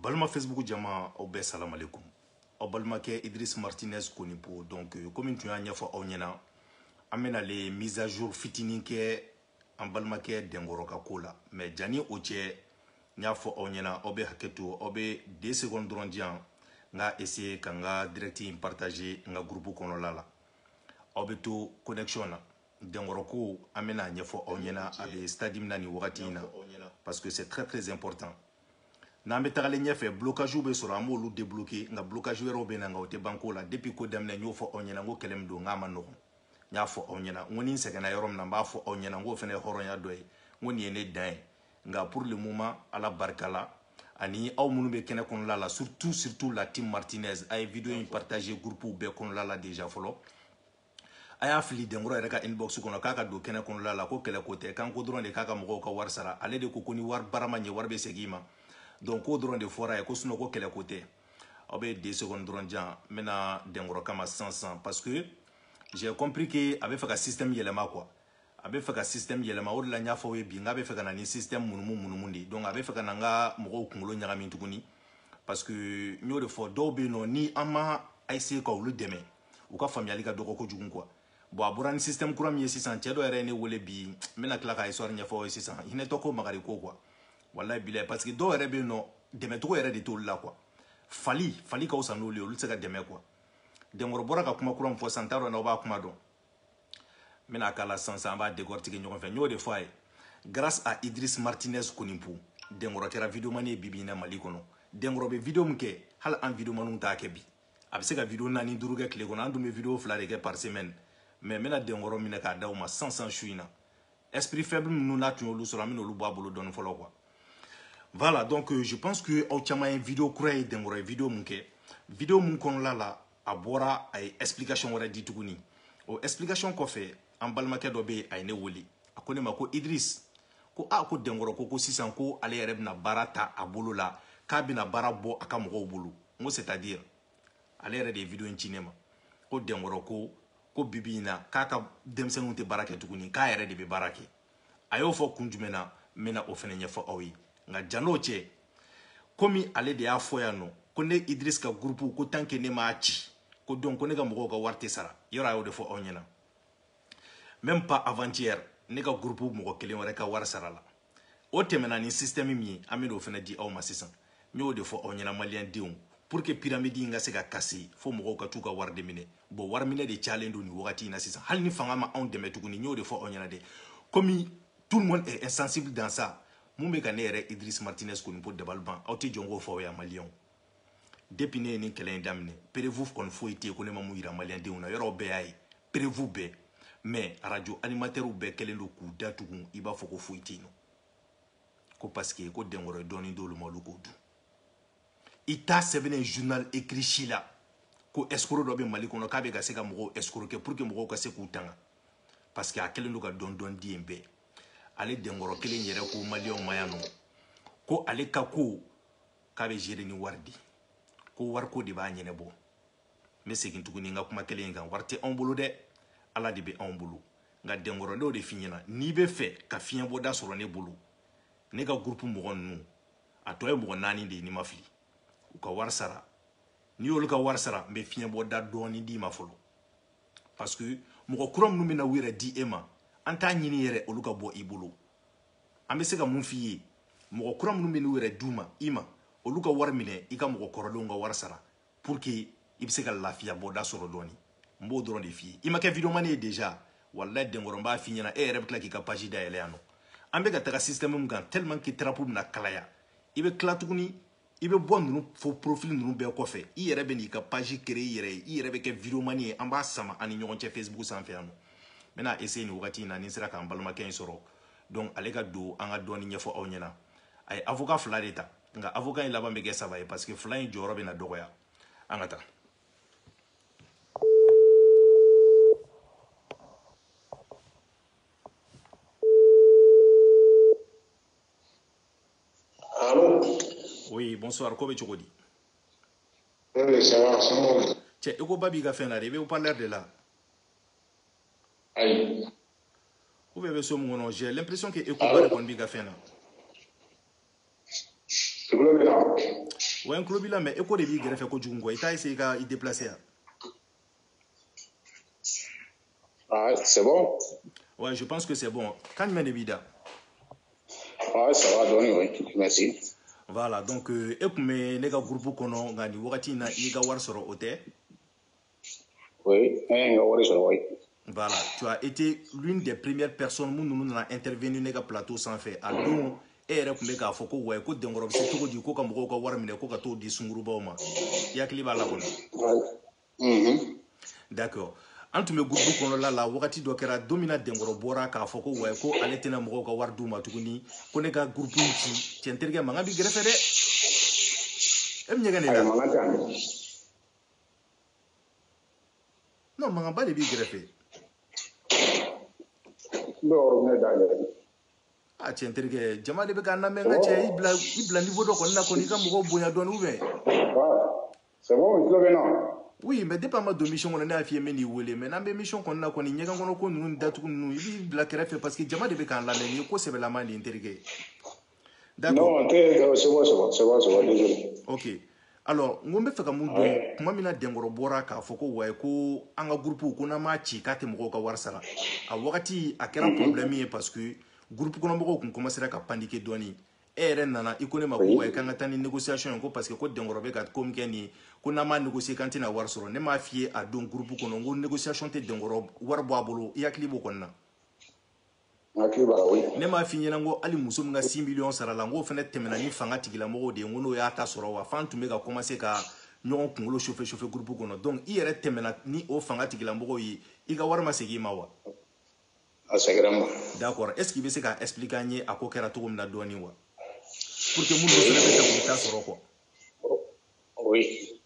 balima facebook jama aw bɛɛ salamalekum aw balimakɛ idris martinez konipo donc euh, komi n tun y'a ɲɛfɔ aw ɲɛna an bɛna le mise à jour fitinin kɛ an balimakɛ denkɔrɔ ka ko la mais jani o cɛ n y'a fɔ aw ɲɛna aw bɛ hakɛ to aw bɛ deux secondes dɔrɔn di yan n ka essayer ka n ka direct in partager n ka groupe kɔnɔla la aw bɛ to connexion na denkɔrɔ ko an bɛna a ɲɛfɔ aw ɲɛna a bɛ stade min na nin wagati in na parce que c'est très très important n'an bɛ tagalen ɲɛfɛ blocage bɛ sɔrɔ an b'olu débloquer nka blocage wɛrɛw bɛ na nka o tɛ ban ko la depuis ko daminɛ n y'o fɔ aw ɲɛna n ko kɛlɛ min don n k'a man nɔgɔn n y'a fɔ aw ɲɛna n ko ni n sɛgɛnna yɔrɔ min na n b'a fɔ aw ɲɛna n k'o fana ye hɔrɔnya dɔ ye n ko nin ye ne dan ye nka pour le moment ala barika la ani aw minnu bɛ kɛnɛ kɔnɔla la surtout surtout la team martinez a ye video in partager groupe bɛɛ kɔnɔla la déjà fɔlɔ a y'a fili denkɔrɔ yɛrɛ ka inbox kɔnɔ k'a ka don kɛnɛ kɔnɔla la ko kɛlɛ ko tɛ kan ko dɔrɔn de k'a ka mɔgɔw ka wari sara ale de ko ko ni wari baara ma ɲɛ wari bɛ segin ma donc k'o dɔrɔn de fɔra ye ko sinon ko kɛlɛ ko tɛ aw bɛ deux secondes dɔrɔn di yan n bɛ na denkɔrɔ kama sisan sisan parce que j'ai compris que a bɛ fɛ ka système yɛlɛma quoi a bɛ fɛ ka système yɛlɛma o de la n y'a fɔ aw ye bi n k'a bɛ fɛ ka na ni système munumu munumu de ye donc a bɛ fɛ ka na n ka mɔgɔw kunkolo ɲagami tuguni parce que n y'o de fɔ dɔw bɛ yen nɔ ni an ma essayer ka olu dɛmɛ u ka faamuyali ka dɔgɔ kojugu quoi bon a bɔra ni système kura min ye sisan cɛ dɔ yɛrɛ ye ne wele bi n bɛna tila ka histoire ɲɛfɔ aw ye sisan hinɛtɔ ko magari ko quoi walayi bilayi parce que dɔw yɛrɛ bɛ yen nɔ dɛmɛcogo yɛrɛ de t'olu la quoi fali fali ka fisa n'olu ye olu tɛ se ka dɛmɛ quoi denkɔrɔ bɔra ka kuma kura min fɔ sisan n t'a dɔn n'aw b'a kuma dɔn n bɛna k'a la sisan sisan an b'a décortiquer ɲɔgɔn fɛ n y'o de fɔ a ye grâce à Idriss Martinez Konipo denkɔrɔ kɛra videomani ye bibi in na Mali kɔnɔ denkɔrɔ bɛ video min kɛ hali an videomaniw t'a kɛ bi a bɛ se ka video naani duuru kɛ tile kɔnɔ an dun bɛ video fila de kɛ par semaine mais n bɛna denkɔrɔ minɛ k'a d'aw ma sisan sisan su in na esprit faible ninnu n'a tun y'olu sɔrɔ an bɛna olu bɔ a bolo dɔɔni fɔlɔ quoi voilà donc euh, je pense que aw caman ye video kura ye denkɔrɔ ye video mun kɛ video mun kɔnɔla la a bɔra a ye explication wɛrɛ di tuguni o explication kɔfɛ an balimakɛ dɔ bɛ yen a ye ne wele a ko ne ma ko idris ko a ko denkɔrɔ ko ko sisan ko ale yɛrɛ bɛna baara ta a bolo la k'a bɛna baara bɔ a ka mɔgɔw bolo n ko c'est à dire ale yɛrɛ de ye video in ci ne ma ko denkɔrɔ ko ko bibi in na k'a ka denmisɛnninw tɛ baara kɛ tuguni k'a yɛrɛ de bɛ baara kɛ a y'o fɔ kun jumɛn na n bɛna o fana ɲɛfɔ aw ye nka jan'o cɛ komi ale de y'a fɔ yan nɔ ko ne idris ka gurupu ko tant que ne m'a ci ko donc ko ne ka mɔgɔw ka wari tɛ sara yɔrɔ a y'o de fɔ aw ɲɛna même pas avant-hier ne ka gurupu mɔgɔ kelen wɛrɛ ka wari sarala o tɛmɛna ni système min ye an bɛn'o fana di aw ma sisan n y'o de fɔ aw ɲɛna maliyɛn denw pour que piramidi in ka se ka casser fo mɔgɔw ka t'u ka wari de minɛ bɔn wari minɛ de cayalen don nin wagati in na sisan hali ni fanga ma anw dɛmɛ tuguni n y'o de fɔ aw ɲɛna dɛ komi tout le monde est insensible dans ça mun bɛ ka ne yɛrɛ idris martinez konipo dabali ban aw tɛ jɔ n k'o fɔ aw ya maliyɛnw depuis ne ye nin kɛlɛ in daminɛ perevu kɔni foyi tɛ yen ko ne ma mun yira maliyɛndenw na yɔrɔw bɛɛ y'a ye perevu bɛɛ mais arajo animatɛriw bɛɛ kɛlen don k'u da tugun i b'a fɔ ko foyi tɛ yen nɔ ko parce que ko denkɔrɔ ye dɔɔni d'olu ma olu k'o dun i t'a sɛbɛnnen journal écrit si la ko escroc dɔ bɛ mali kɔnɔ k'a bɛ ka se ka mɔgɔw escroquer pour que mɔgɔw ka se k'u tanga parce que a kɛlen don ka dɔn dɔn di yen bɛɛ ale denkɔrɔ kelen yɛrɛ ko maliyɛnw ma yan nɔ ko ale ka ko k'a bɛ gérer ni wari de ye ko wariko de b'a ɲɛnabɔ n bɛ segin tuguni n ka kuma kelen in kan wari tɛ anw bolo dɛ ala de bɛ anw bolo nka denkɔrɔ n b'o de f'i ɲɛna n'i bɛ fɛ ka fiɲɛbɔda sɔrɔ ne bolo ne ka gurupu mɔgɔ ninnu a tɔ ye mɔgɔ naani de ye ni n ma fili u ka wari sara n'i y'olu ka wari sara n bɛ fiɲɛbɔda dɔɔni d'i ma fɔlɔ parce que mɔgɔ kura minnu bɛna u yɛrɛ di e ma an t'a ɲini yɛrɛ olu ka bɔ i bolo an bɛ se ka mun f'i ye mɔgɔ kura minnu bɛ n'u yɛrɛ d'u ma i ma olu ka wari minɛ i ka mɔgɔ kɔrɔlenw ka wari sara pour que i bɛ se ka lafiya bɔda sɔrɔ dɔɔni n b'o dɔrɔn de f'i ye i ma kɛ videomani ye déjà walayi denkɔrɔ n b'a f'i ɲɛna e yɛrɛ bɛ tila k'i ka page dayɛlɛ yan nɔ an bɛ ka taga système min kan tellement que trapu bɛna kalaya i bɛ tila tuguni i bɛ bɔ ninnu faux profil ninnu bɛɛ kɔfɛ i yɛrɛ bɛ n'i ka page créer i yɛrɛ ye i yɛrɛ bɛ kɛ videomani ye an b'a sama an ni ɲɔgɔn cɛ Facebook sanfɛ yan nɔ n bɛna essayer nin wagati in na ni n sera k'an balimakɛ in sɔrɔ donc ale ka don an ka dɔɔni ɲɛfɔ aw ɲɛna a ye avocat fila de ta nka avocat in laban bɛ kɛ saba ye parce que fila in jɔyɔrɔ bɛna dɔgɔya an ka taa oui bonsoir ko bɛ cogo di cɛ écho ba b'i ka fɛn na dɛ i bɛ haut-parleur de la ayi ou bien i bɛ so min kɔnɔ j'ai l'impression que écho ba de kɔni b'i ka fɛn na ouais n tulo b'i la mais écho de b'i gɛrɛfɛ kojugu kɔ i t'a essayer i ka i déplacer ya ah, c'est bon ouais je pense que c'est bon kan jumɛn de b'i da ah, ça va dɔɔni oui merci voilà donc euh, e tun bɛ ne ka groupe kɔnɔ nka nin wagati in na i ka wari sɔrɔ o tɛ Oui, un euro sur oui. Voilà, tu as été l'une des premières personnes nous nous a intervenu dans le plateau sans faire. Ah donc, e yɛrɛ tun bɛ k'a fɔ ko wayi ko dɛnkɔrɔ bɛ se cogo di ko ka mɔgɔw ka wari minɛ ko ka t'o di sungurubaw ma i hakili b'a la kɔni mm-hmm. d'accord an tun bɛ gurupu kɔnɔla la wagati dɔ kɛra don min na dɛnkɔrɔ bɔra k'a fɔ ko wayi ko ale tɛna mɔgɔw ka wari d'u ma tuguni ko ne ka gurupu in ci cɛ n terikɛ mankan b'i gɛrɛfɛ dɛ e bɛ ɲɛgɛn ne la non mankanba de b'i kɛrɛfɛ ne yɔrɔ ne da yɛrɛ a cɛ n terikɛ jama de bɛ k'an lamɛn n ka cɛ i bila i bila niveau dɔ kɔni na kɔni i ka mɔgɔw bonya dɔɔni ou bien c'est bon n tulo b'i la oui mais depuis an ma don émission kɔnɔ ne y'a f'i ye n bɛn'i wele mais n'an bɛ émission kɔni na kɔni ɲɛgɛn kɔnɔ ko ninnu datugu ninnu i b'u bila kɛrɛfɛ parce que jama de bɛ k'an lamɛn nin ye ko sɛbɛlama de ye n terikɛ D'accord. Non, euh, c'est bon, c'est bon, c'est bon, c'est bon, désolé. Ok. alors n ko n bɛ fɛ ka mun dɔn ah tuma min na dɛnkɔrɔ bɔra k'a fɔ ko wayi ko an ka gurupu ko n'an m'a ci k'a tɛ mɔgɔw ka wari sara a wagati a kɛra problɛmi ye parce que gurupu kɔnɔmɔgɔw tun kɔmansera ka paniquer dɔɔni e yɛrɛ nana i ko ne ma ko wayi k'an ka taa ni négociation ye ko parce que ko dɛnkɔrɔ bɛ ka ko min kɛ nin ye ko n'an m'a négocier k'an tɛna wari sɔrɔ ne m'a f'i ye a don gurupu kɔnɔ n ko négociation tɛ dɛnkɔrɔ wari bɔ a bolo i hakili b'o kɔni na ne m'a f'i ɲɛna ko hali muso min ka six millions sara la n k'o fana tɛmɛna ni fanga tigilamɔgɔw de ye n ko n'o y'a ta sɔrɔ wa f'an tun bɛ ka kɔmanse ka ɲɔgɔn kunkolo sofe sofe gurupu kɔnɔ donc i yɛrɛ tɛmɛna ni o fanga tigilamɔgɔw ye i ka wari ma segin i ma wa a segira n ma d'accord est ce que i bɛ se ka expliquer an ye a ko kɛra cogo min na dɔɔni wa pour que minnu fana bɛ se k'u ta sɔrɔ quoi oui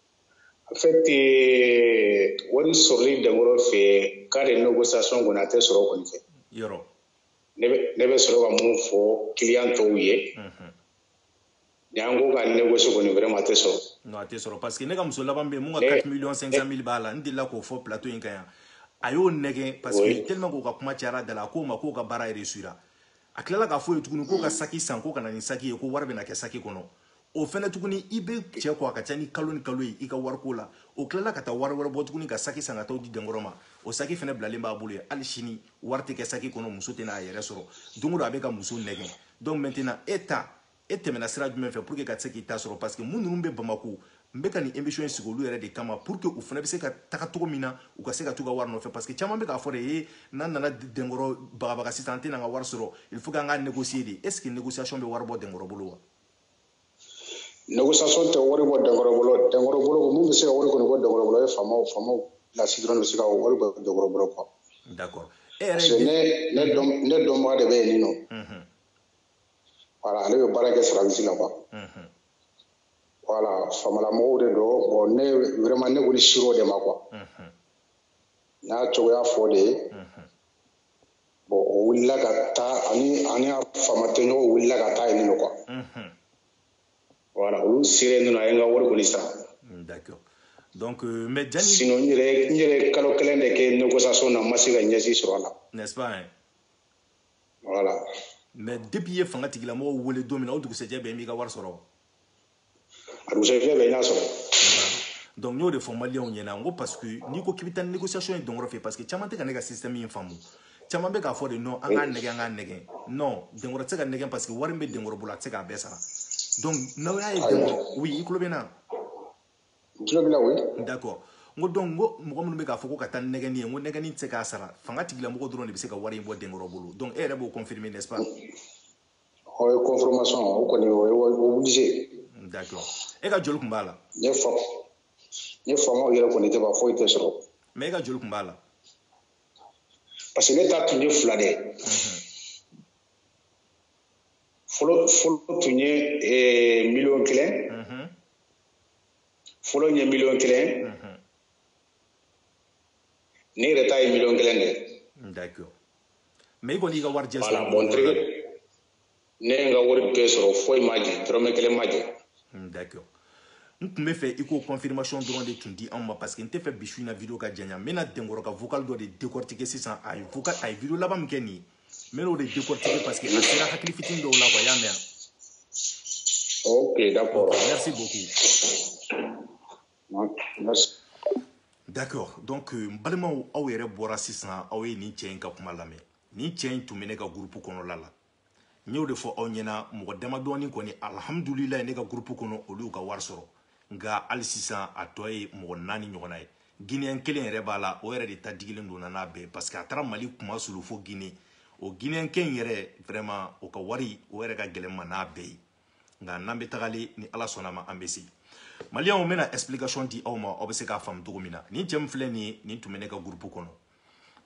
En fait, eh, wari sɔrɔli dɛnkɔrɔ fɛ k'a de négociation kɔni a tɛ sɔrɔ kɔni fɛ. Yɔrɔ. Ne bɛ ne bɛ sɔrɔ ka mun fɔ client tɔw ye. Unhun. Ni an ko ka négocier kɔni vraiment a tɛ sɔrɔ. Non a tɛ sɔrɔ parce que ne ka muso laban bɛ yen mun ka 4 millions 500 mille b'a la n delila k'o fɔ plateau in kan yan. A y'o nɛgɛn parce que tellement k'o ka kuma cayara da la a k'o ma k'o ka baara réussira. A tilala k'a f'o ye tuguni k'o ka saki san k'o ka na ni saki ye ko wari bɛna kɛ saki kɔnɔ. o fɛnɛ tuguni i bɛ cɛ kɔ a ka ca ni kalo ni kalo ye i ka wariko la o tilala ka taa wari wɛrɛ bɔ tuguni ka saki san ka t'a di dɛnkɔrɔ ma o saki fɛnɛ bilalen b'a bolo yen hali sini wari tɛ kɛ saki kɔnɔ muso tɛna a yɛrɛ sɔrɔ don o don a bɛ ka muso nɛgɛn donc maintenant e ta e tɛmɛna sira jumɛn fɛ pour que ka se k'i ta sɔrɔ parce que minnu bɛ bamako n bɛ ka nin émission in sigi olu yɛrɛ de kama pour que u fana bɛ se ka taga cogo min na u ka se ka t'u ka wari nɔfɛ parce que caman bɛ k'a fɔ ne ye n'an nana dɛnkɔrɔ bagabaga sisan an tɛna an ka wari sɔrɔ il faut que an ka négocier de est ce que négociation bɛ wari bɔ dɛnkɔrɔ bolo wa négociation tɛ wari bɔ denkɔrɔ bolo denkɔrɔ bolo mun bɛ se ka wari kɔni bɔ denkɔrɔ bolo ye faama faamala sira dɔrɔn de bɛ se ka wari bɔ denkɔrɔ bolo quoi d'accord e yɛrɛ parce que ne ne dɔn ne dɔnbaga de bɛ yen nin nɔ mhm. voilà ale bɛ baara kɛ service la quoi mhm. voilà faamalamɔgɔw de don bon ne vraiment ne kɔni ser'o de ma quoi mhm. n y'a cogoya f'o de ye bon o wulila ka taa ani ani a faama tɔɲɔgɔn wulila ka taa yen nɔ quoi voilà olu sera yen nɔ a ye n ka wari kɔni sara d'accord donc euh, mais jani sinon n yɛrɛ n yɛrɛ kalo kelen de kɛ négociation na n ma se ka ɲɛ si sɔrɔ a la n'est-ce pas hein? voilà mais depuis i ye fanga tigilamɔgɔw wele don min na o dugusɛjɛ bɛɛ m'i ka wari sɔrɔ a dugusɛjɛ bɛɛ n y'a sɔrɔ donc n y'o de fɔ maliyɛnw ɲɛna n ko parce que n'i ko k'i bɛ taa ni négociation ye denkɔrɔ fɛ parce que caman tɛ ka ne ka système in faamu caman bɛ k'a fɔ de non an k'a nɛgɛ an k'a nɛgɛ non denkɔrɔ tɛ se ka nɛgɛ parce que wari min bɛ denkɔrɔ bolo a tɛ se k'a bɛɛ sara donc n'aw y'a ye denkɔrɔ oui i tulo bɛ n na n tulo b'i la oui d'accord n ko donc n ko mɔgɔ minnu bɛ k'a fɔ ko ka taa ni nɛgɛni ye n ko nɛgɛni tɛ se k'a sara fanga tigilamɔgɔ dɔrɔn de bɛ se ka wari in bɔ denkɔrɔ bolo donc e yɛrɛ b'o confirmer n'est-ce pas Oui confirmation o kɔni o ye obligé. D'accord e ka joli tun b'a la? Ni fa ni faamaw yɛrɛ kɔni tɛ ban foyi tɛ sɔrɔ. Mais e ka joli tun b'a la? Parce que ne ta tun ye fila de ye. Mhm. Fɔlɔ fɔlɔ tun ye eh, miliyɔn kelen. Mhm. Fɔlɔ ye miliyɔn kelen. Mhm. Ne yɛrɛ ta ye miliyɔn kelen de ye. D'accord. mais i kɔni y'i ka wari jɛ sɔrɔ voilà bon tirike ne ye n ka wari bɛɛ sɔrɔ foyi ma jɛ dɔrɔmɛ kelen ma jɛ d'accord n tun bɛ fɛ i k'o confirmation dɔrɔn de tun di anw ma parce que n tɛ fɛ bi su in na video ka janya n bɛna denkɔrɔ ka vocal dɔ de décortiquer sisan a ye vocal a ye video laban min kɛ nin ye n bɛn'o de décortiquer parce que a sera hakili fitini dɔw la quoi i y'a mɛn ok d'accord merci beaucoup D'accord donc euh, n balimaw aw yɛrɛ bɔra sisan aw ye nin cɛ in ka kuma lamɛn nin cɛ in tun bɛ ne ka groupe kɔnɔla la n y'o de fɔ aw ɲɛna mɔgɔ damadɔɔni kɔni alhamdulilayi ne ka groupe kɔnɔ olu y'u ka wari sɔrɔ nka hali sisan a tɔ ye mɔgɔ naani ɲɔgɔnna ye guinéen kelen yɛrɛ b'a la o yɛrɛ de ta digilen don n na n'a bɛɛ parce que a taara mali kuma sulu fo guinée o guinéen kɛ in yɛrɛ vraiment o ka wari o yɛrɛ ka gɛlɛn n ma n'a bɛɛ ye nka n'an bɛ tagalen ni ala sɔnn'a ma an bɛ se maliyɛnw n bɛna explication di aw ma aw bɛ se k'a faamu cogo min na nin cɛ min filɛ nin ye nin tun bɛ ne ka groupe kɔnɔ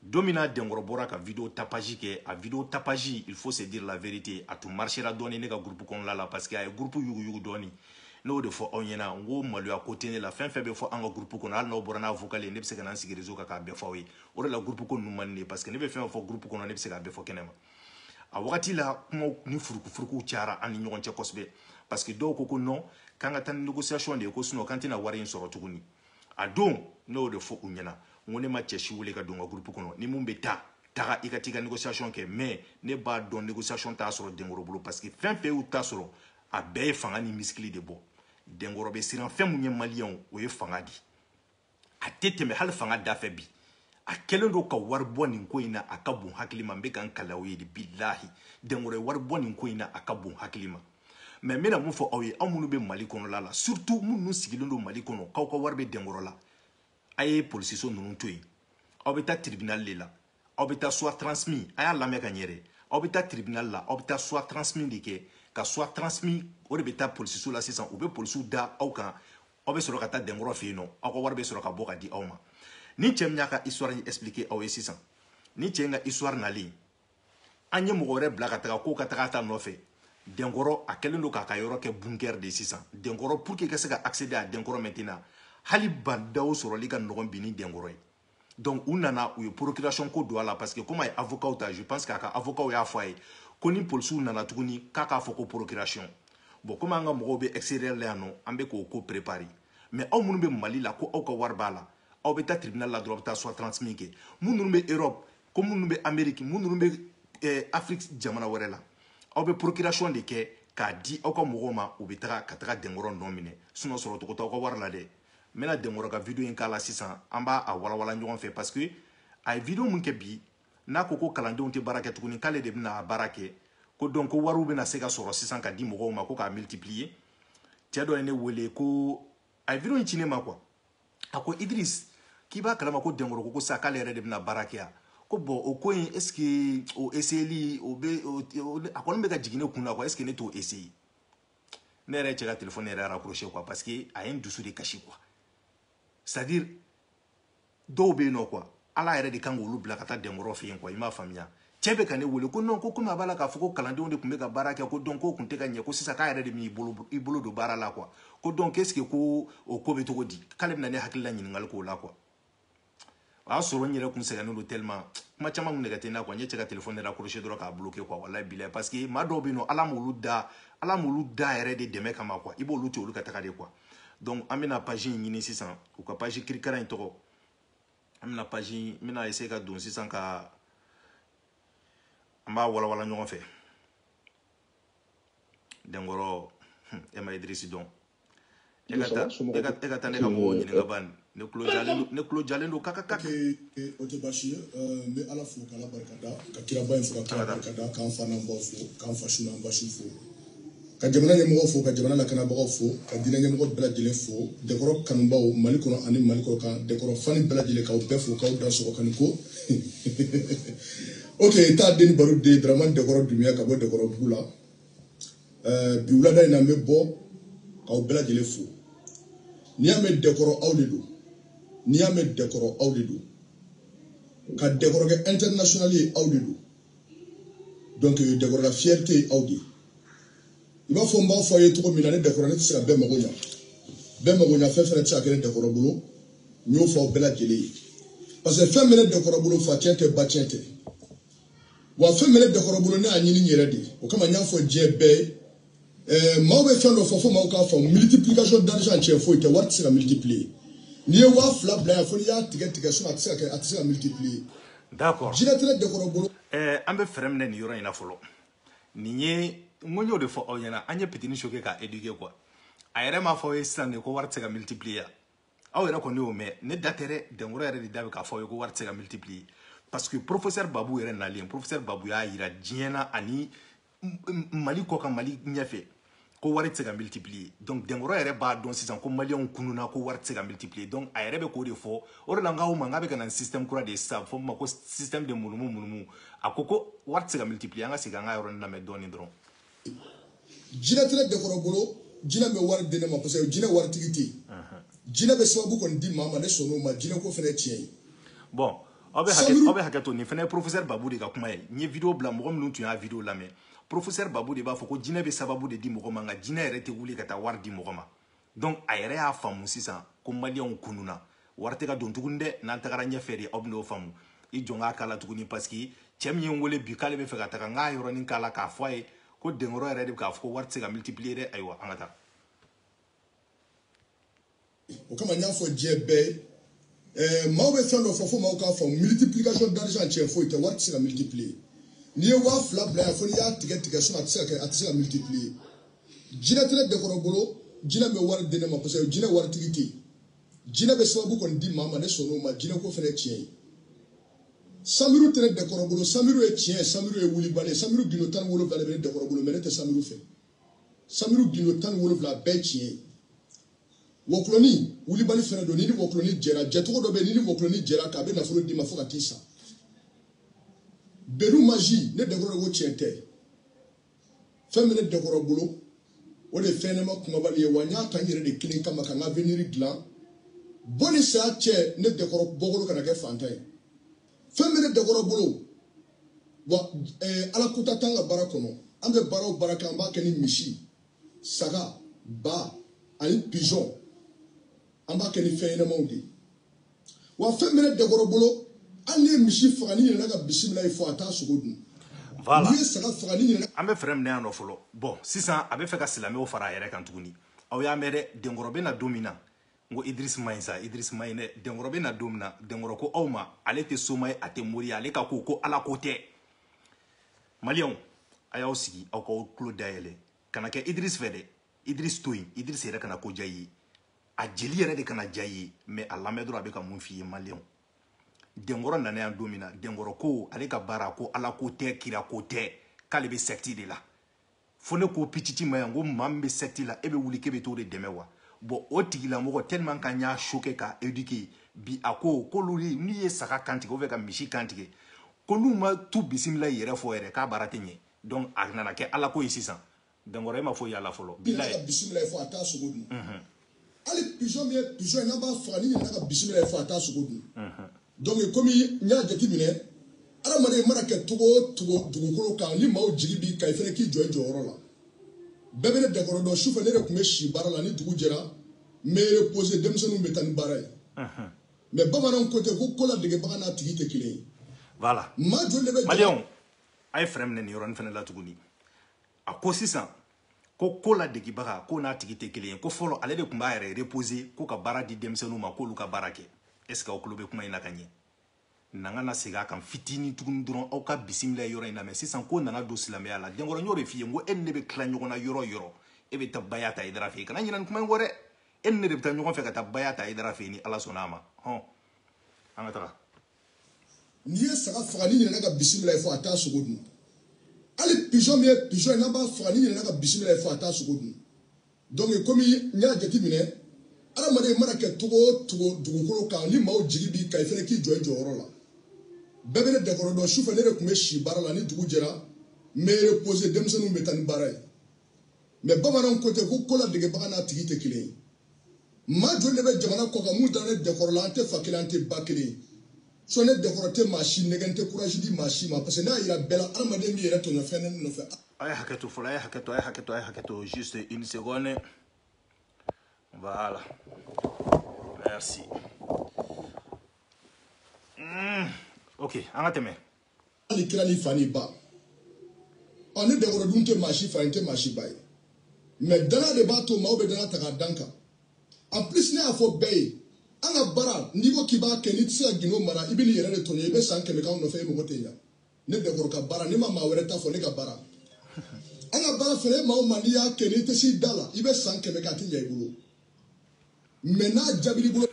don min na denkɔrɔ bɔra ka video tapage kɛ a video tapage il faut se dire la vérité a tun marchera dɔɔni ne ka groupe kɔnɔla la parce que a ye groupe yuguyugu dɔɔni n'o de fɔ aw ɲɛna n ko maloya ko tɛ ne la fɛn fɛn bɛ fɔ an ka groupe kɔnɔ hali n'aw bɔra n'a vocal ye ne bɛ se ka na n sigi réseau kan k'a bɛɛ fɔ aw ye o de la groupe ko ninnu man di ne ye parce que ne bɛ fɛn o fɛn fɔ groupe kɔnɔ ne bɛ se k'a bɛɛ fɔ kɛnɛma a wagati la kumaw ni furukufurukuw cayara an ni ɲɔgɔn cɛ kosɛbɛ parce que dɔw ko ko non k'an ka taa ni négociation de ye ko sinon k'an tɛna wari in sɔrɔ tuguni a don ne y'o de fɔ u ɲɛna n ko ne ma cɛ si wele ka don n ka groupe kɔnɔ ni mun bɛ taga i ka t'i ka négociation kɛ mais ne b'a dɔn négociation t'a sɔrɔ denkɔrɔ bolo parce que fɛn fɛn y'u ta sɔrɔ a bɛɛ ye fanga ni misikili de bɔ denkɔrɔ bɛ siran fɛn mun ye maliyɛnw o ye fanga di a tɛ tɛmɛ hali fanga dafɛ bi a kɛlen don ka wari bɔ nin ko in na a ka bon hakili ma n bɛ ka n kali aw ye de bilahi denkɔrɔ ye wari bɔ nin ko in na a ka bon hakili ma mais n bɛna mun fɔ aw ye aw minnu bɛ mali kɔnɔla la surtout minnu sigilen don mali kɔnɔ k'aw ka wari bɛ denkɔrɔ la a ye polisiso ninnu to yen aw bɛ taa tribunal de la aw bɛ taa soit transmis a y'a lamɛn ka ɲɛ dɛ aw bɛ taa tribunal la aw bɛ taa soit transmis de kɛ ka soit transmis o de bɛ taa polisiso la sisan u bɛ polisiw da aw kan aw bɛ sɔrɔ ka taa denkɔrɔ fɛ yen nɔ aw ka wari bɛ sɔrɔ ka bɔ ka di aw ma ni cɛ min y'a ka histoire in expliquer aw ye sisan ni cɛ in ka histoire nalen an ye mɔgɔ wɛrɛ bila ka taga k'o ka taga a ta nɔfɛ denkɔrɔ a kɛlen don k'a ka yɔrɔ kɛ bunker de ye sisan denkɔrɔ pour que i ka se ka accéder à denkɔrɔ maintenant hali bah ndaw sɔrɔli ka nɔgɔn bi ni denkɔrɔ ye donc u nana u ye procuration ko don a la parce que comme a ye avocat ta je pense k'a ka avocat y'a fɔ a ye ko ni polisiw nana tuguni k'a k'a fɔ ko procuration bon comme an ka mɔgɔw bɛ extérieur la yan nɔ an bɛ k'o ko préparer mais aw minnu bɛ mali la ko aw ka wari b'a la aw bɛ taa tribunal la dɔrɔn aw bɛ taa soit transmis kɛ minnu bɛ europe ko minnu bɛ amérique minnu bɛ eh, afrique jamana wɛrɛ la aw bɛ procuration de kɛ k'a di aw ka mɔgɔw ma u bɛ taga ka taga denkɔrɔ nɔ minɛ sinon sɔrɔ cogo t'aw ka wari la dɛ n bɛna denkɔrɔ ka vidéo in k'a la sisan an b'a walawala ɲɔgɔn fɛ parce que a ye vidéo min kɛ bi n'a ko ko kalandenw tɛ baara kɛ tuguni k'ale de bɛna a baara kɛ ko donc ko wariw bɛna se ka sɔrɔ sisan ka di mɔgɔw ma ko k'a multiplier cɛ dɔ ye ne wele ko a ye vidéo in ci ne ma quoi a ko idris k'i b'a kalama ko denkɔrɔ ko ko sa k'ale yɛrɛ de bɛna baara kɛ yan ko bon o ko in est ce que o essayeli o bɛ a kɔni bɛ ka jigin ne kun na quoi est ce que ne t'o essayer ne yɛrɛ cɛ ka téléphone yɛrɛ raccrocher quoi parce que a ye n dusu de kasi quoi c'est à dire dɔw bɛ yen nɔ quoi ala yɛrɛ de kan k'olu bila ka taa denkɔrɔ fɛ yen quoi i m'a faamuya cɛ bɛ ka ne wele ko non ko komi a b'a la k'a fɔ ko kalandenw de tun bɛ ka baara kɛ ko donc k'o tun tɛ ka ɲɛ ko sisan k'a yɛrɛ de b'i bolo don baara la quoi ko donc est ce que ko o ko bɛ cogo di k'ale bɛna ne hakilila ɲininkali k'o la quoi o y'a sɔrɔ n yɛrɛ kun sɛgɛnnen don tellement kuma caman kun nɛgɛ tɛ n na quoi n ye cɛ ka téléphone raccrocher dɔrɔn k'a bloquer quoi walayi bilayi parce que maa dɔw bɛ yen nɔ ala m'olu da yɛrɛ de dɛmɛ kama quoi i b'olu to olu ka taga de quoi donc an bɛna page in ɲini sisan u ka page kirikara in tɔgɔ an bɛna page in n bɛna essayer ka don sisan ka an b'a walawala ɲɔgɔn fɛ denkɔrɔ hmm, e ma idirisi dɔn e, e ka taa ne ka mɔgɔw ɲininka ban ne tulo jalen don kakakak o tɛ baasi ye n bɛ ala fo k'ala barikada ka kiraba in fo ka kira barikada k'an fa n'an baw fo k'an fasu n'an basuw fo ka jamana ɲɛmɔgɔ fo ka jamana lakanabagaw fo ka diinɛ ɲɛmɔgɔ bɛɛ lajɛlen fo denkɔrɔ kanubaw mali kɔnɔ ani mali kɔkan denkɔrɔ fani bɛɛ lajɛlen k'aw bɛɛ fo k'aw dansɔgɔ kani ko ok taa den baro de ye daramani denkɔrɔ dunbiya ka bɔ denkɔrɔbugu la bi wulada in na n bɛ bɔ k'aw bɛɛ lajɛlen fo n'i y'a mɛn denkɔrɔ aw de don n'i y'a mɛn denkɔrɔ aw de don ka denkɔrɔ kɛ international ye aw de don donc denkɔrɔ la fierté ye aw de ye i b'a fɔ n b'a fɔ a ye cogo min na ne denkɔrɔ ne tɛ se ka bɛɛ mago ɲa bɛɛ mago ɲa fɛn fɛnɛ tɛ se ka kɛ ne denkɔrɔ bolo n y'o fɔ aw bɛɛ lajɛlen ye parce que fɛn min bɛ ne denkɔrɔ bolo facɛn tɛ bacɛn tɛ wa fɛn min bɛ ne denkɔrɔ bolo ne y'a ɲini n yɛrɛ de ye o kama n y'a fɔ diɲɛ bɛɛ ye ɛɛ maaw bɛ fɛn dɔ fɔ fo maaw k'a faamu multiplication d'argent tiɲɛ foyi tɛ wari tɛ se ka multiplier n'i ye waa fila bila yan fo n'i y'a tigɛ tigɛ sinon a tɛ se ka kɛ a tɛ se ka multiplier d'accord jinɛ tɛ ne denkɔrɔ bolo ɛɛ an bɛ fɛrɛn minɛ nin yɔrɔ in na fɔlɔ nin ye n ko n y'o de fɔ aw ɲɛna an ye pitini choquer k'a éduquer quoi a yɛrɛ m'a fɔ aw ye sisan de ko wari tɛ se ka multiplier aw yɛrɛ kɔni y'o mɛn ne da tɛ dɛ denkɔrɔ yɛrɛ de da bɛ k'a fɔ aw ye ko wari tɛ se ka multiplier parce que professeur babu yɛrɛ nalen professeur babu y'a jira diɲɛ na ani mali kɔkan mali ɲɛfɛ ko wari tɛ se ka multiplier donc denkɔrɔ yɛrɛ b'a dɔn sisan ko maliyɛnw kununa ko wari tɛ se ka multiplier donc a yɛrɛ bɛ k'o de fɔ o de la n k'aw ma n k'a bɛ ka na ni système kura de ye sisan fɔ ma ko système de munumu munumu a ko ko wari tɛ se ka multiplier an ka segin an ka yɔrɔnin lamɛn dɔɔnin dɔrɔn. jinɛ tɛ ne denkɔrɔ bolo jinɛ ma wari di ne ma parce que jinɛ waritigi tɛ yen jinɛ bɛ sababu kɔni di maa ma ne sɔnn'o ma jinɛ ko fana ye tiɲɛ ye. bon aw bɛ hakɛ to nin fana ye professeur babu de ka kuma ye n ye video bila mɔgɔ minnu tun y'a video lamɛn. professeur babu de b'a fɔ ko jinɛ bɛ sababu de di mɔgɔ ma nka jinɛ yɛrɛ tɛ wuli ka taa wari di mɔgɔ ma donc a yɛrɛ y'a faamu sisan ko maliyɛnw kununa wari tɛ ka don tuguni dɛ n'an tagara ɲɛfɛ de aw bɛn'o faamu i jɔ n k'a kala tuguni parce que cɛ min ye n wele bi k'ale bɛ fɛ ka taga n k'a yɔrɔnin kala k'a fɔ a ye ko denkɔrɔ yɛrɛ de bɛ k'a fɔ ko wari tɛ se ka multiplier dɛ ayiwa an ka taa o kama n y'a fɔ diɲɛ bɛɛ ye ɛɛ maaw bɛ fɛn dɔ fɔ fo maaw k'a faamu multiplication d'argent tiɲɛ foyi tɛ wari tɛ se ka multiplier n'i ye waa fila bila yan fo n'i y'a tigɛ tigɛ sinon a tɛ se ka kɛ a tɛ se ka multiplier jinɛ tɛ ne denkɔrɔ bolo jinɛ ma wari di ne ma parce que jinɛ waritigi tɛ yen jinɛ bɛ sababu kɔni di maa ma ne sɔnn'o ma jinɛ ko fana ye tiɲɛ ye samiru tɛ ne denkɔrɔ bolo samiru ye tiɲɛ ye samiru ye wulibali ye samiru gundo tan ni wolonwula de bɛ ne denkɔrɔ bolo mais ne tɛ samiru fɛ samiru gindo tan ni wolonwula bɛɛ tiɲɛ ye wɔkulɔni wulibali fɛnɛ don ni ni wɔkulɔni jɛra jɛcogo dɔ bɛ ni ni wɔkulɔni jɛra k'a bɛ nafolo d'i ma fo ka t'i sa benu maji ne denkɔrɔ de ko tiɲɛ tɛ fɛn min ne denkɔrɔ bolo o de ye fɛn ɲɛnama kumabali ye wa n y'a ta n yɛrɛ de kelen kama ka n ka avenir dilan bɔ ni saya cɛ ne denkɔrɔ bɔkolo kana kɛ fantan ye fɛn min ne denkɔrɔ bolo wa eh, ala ko ta t'an ka baara kɔnɔ an bɛ baara o baara kɛ an b'a kɛ ni misi saga ba ani pigeon an b'a kɛ ni fɛn ɲɛnamaw de ye wa fɛn bɛ ne denkɔrɔ bolo hali n'i ye misi faga n'i ɲinɛna ka bisimilayi fɔ a t'a sogo dun voilà n'i ye saga faga n'i ɲinɛna an bɛ frein minɛ yan nɔ fɔlɔ bɔn sisan a bɛ fɛ ka silamɛw fara a yɛrɛ kan tuguni aw y'a mɛn dɛ denkɔrɔ bɛ na don min na n ko idris man ɲi sa idris man ɲi dɛ denkɔrɔ bɛ na don min na denkɔrɔ ko aw ma ale tɛ soma ye a tɛ mori ye ale ka ko ko ala ko tɛ maliyɛnw a y'aw sigi aw k'aw tulo dayɛlɛ kana kɛ idris fɛ dɛ idris to yen idris yɛrɛ kana ko diya i ye a jeli yɛrɛ de kana diya i ye mɛ a lamɛn dɔrɔn a bɛ ka mun f'i ye maliyɛnw denkɔrɔ nana yan don min na denkɔrɔ ko ale ka baara ko ala ko tɛ kira ko tɛ k'ale bɛ sɛkiti de la fo ne ko pititi ma yan ko maa min bɛ sɛkiti la e bɛ wuli k'e bɛ t'o de dɛmɛ wa bɔn o tigilamɔgɔ tellement k'an y'a choquer k'a éduquer bi a ko k'olu n'u ye saga kantigɛ ou bien ka misi kantigɛ ko n'u ma tu bisimilayi yɛrɛ fɔ yɛrɛ k'a baara tɛ ɲɛ donc a nana kɛ alako ye sisan denkɔrɔ e ma foyi y'a la fɔlɔ bilayi bisimila fɔ a t'a sogo dun hali pigeon min ye pigeon ye n'an b'a faga n'i ɲinɛna ka bisimilayi fɔ a t'a sogo dun donc komi n y'a jateminɛ adamaden mana kɛ cogo o cogo dugukolo kan ni maaw jigi b'i kan i fana k'i jɔ i jɔyɔrɔ la bɛɛ bɛ ne denkɔrɔ dɔn sufɛ ne de tun bɛ si baara la ni dugu jɛra n bɛ reposer denmisɛnninw bɛ taa ni baara ye mɛ bamananw ko ten ko ko ladegebaga n'a tigi tɛ kelen ye voilà maa joli de bɛ maliyɛnw a ye frein minɛ nin yɔrɔnin fana la tuguni a ko sisan ko ko ladegebaga ko n'a tigi tɛ kelen ye ko fɔlɔ ale de tun b'a yɛrɛ reposer ko ka baara di denmisɛnninw ma k'olu ka baara kɛ est ce que aw tulo bɛ kuma in na ka ɲɛ na ka na segin a kan fitinin tuguni dɔrɔn aw ka bisimila yɔrɔ in lamɛn sisan ko nana don silamɛya la denkɔrɔ n y'o de f'i ye n ko e ni ne bɛ tila ɲɔgɔn na yɔrɔ yɔrɔ e bɛ taa baya ta hayidara fɛ yen kana ɲinɛ nin kuma in kɔ dɛ e ni ne de bɛ taa ɲɔgɔn fɛ ka taa baya ta hayidara fɛ yen ni ala sɔnna a ma hɔn an ka taga n'i ye saga faga n'i ɲinɛna ka bisimilayi fɔ a t'a sogo dun hali pigeon min ye pigeon ye n'an b'a faga n'i ɲinɛna ka bisimilayi fɔ a t'a sogo dun donc komi n y'a jateminɛ adamaden mana kɛ cogo o cogo dugukolo kan ni maaw jigi b'i kan i fana k'i jɔ i jɔyɔrɔ la bɛɛ bɛ ne denkɔrɔ dɔn sufɛ ne de tun bɛ si baara la ni dugu jɛra n bɛ reposer denmisɛnninw bɛ taa ni baara ye mais bamananw ko ten ko ko ladegebaga n'a tigi tɛ kelen ye maa joli de bɛ jamana kɔ kan mun dalen denkɔrɔ la an tɛ fa kelen an tɛ ba kelen sinon ne denkɔrɔ tɛ maa si nɛgɛn tɛ courage di maa si ma parce que n'a yira bɛɛ la adamaden b'i yɛrɛ tɔɲɔ fɛn ne nɔfɛ a ye hakɛ to fɔlɔ a ye hakɛ to a ye hakɛ to a ye hakɛ to juste une seconde voilà merci mm. ok an ka tɛmɛ hali kira ni fa ni ba ɔ ne denkɔrɔ dun tɛ maa si fa ye tɛ maa si ba ye mais dana de b'a to maaw bɛ dana ta k'a da n kan en plus ne y'a fɔ bɛɛ ye an ka baara n'i ko k'i b'a kɛ n'i tɛ se ka gindo mara i bɛn'i yɛrɛ de tɔɲɔ i bɛ san kɛmɛ k'anw nɔfɛ e mago tɛ ɲa ne denkɔrɔ ka baara ne ma maa wɛrɛ ta fɔ ne ka baara an ka baara fɛnɛ e maa o maa n'i y'a kɛ n'i tɛ s'i da la i bɛ san kɛmɛ kɛ a tɛ ɲa i bolo mais n'a jaabil'i bolo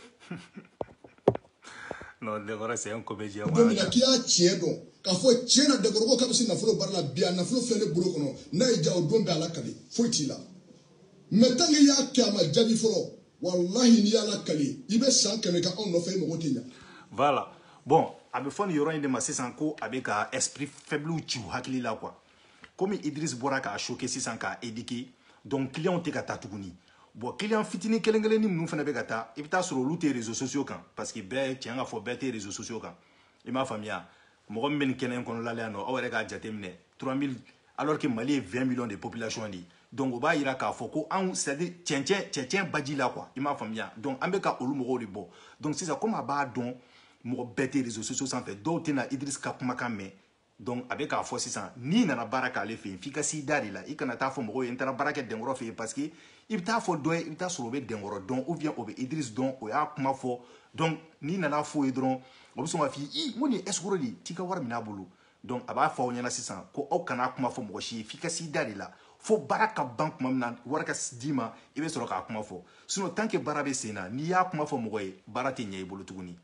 non denkɔrɔ c'est un comédien don min na k'i y'a tiɲɛ dɔn k'a fɔ tiɲɛ na denkɔrɔ ko k'a bɛ se nafolo baara la bi a nafolo filɛ ne bolo kɔnɔ n'a y'i ja o don i bɛ ala kali foyi t'i la mais tant que i y'a kɛ a ma jaabi fɔlɔ walahi n'i y'ala kali i bɛ san kɛmɛ kɛ anw nɔfɛ i mago tɛ ɲa voilà bon a bɛ fɔ nin yɔrɔ in de ma sisan ko a bɛ ka esprit faible ci u hakili la quoi komi idris bɔra k'a choquer sisan k'a éduquer donc clients tɛ ka taa tuguni bon client fitinin kelen kelenni minnu fana bɛ ka taa i bɛ taa sɔrɔ olu tɛ réseaux sociaux kan parce que bɛɛ tiɲɛ ka fɔ bɛɛ tɛ réseaux sociaux kan i m'a faamuya mɔgɔ min bɛ nin kɛnɛ in kɔnɔla la yan nɔ aw yɛrɛ k'a jateminɛ 3000 alors que mali ye 20 millions de population de ye donc o b'a yira k'a fɔ ko anw c'est à dire cɛncɛn cɛncɛn baji la quoi i m'a faamuya donc an bɛ ka olu mɔgɔw de bɔ donc sisan komi a b'a dɔn mɔgɔ bɛɛ tɛ réseaux sociaux sanfɛ dɔw tɛna idris ka kumakan mɛn donc a bɛ k'a fɔ sisan n'i nana baara k'ale fɛ yen f'i ka s'i da de la i kana taa fɔ mɔgɔw ye n taara baara kɛ denkɔrɔ fɛ yen parce que i bɛ taa fɔ dɔ ye i bɛ taa sɔrɔ o bɛ denkɔrɔ dɔn ou bien o bɛ Idriss dɔn o y'a kuma fɔ donc n'i nana f'o ye dɔrɔn o bɛ sɔn k'a f'i ye i n ko nin ye escroc de ye t'i ka wari min'a bolo donc a b'a fɔ aw ɲɛna sisan ko aw kana kuma fɔ mɔgɔ si ye f'i ka s'i da de la fo baara ka ban tuma min na wari ka d'i ma i bɛ sɔrɔ k'a kuma fɔ sinon tant que baara bɛ sen na n'i y'a kuma fɔ mɔgɔ ye baara tɛ ɲɛ i bolo tuguni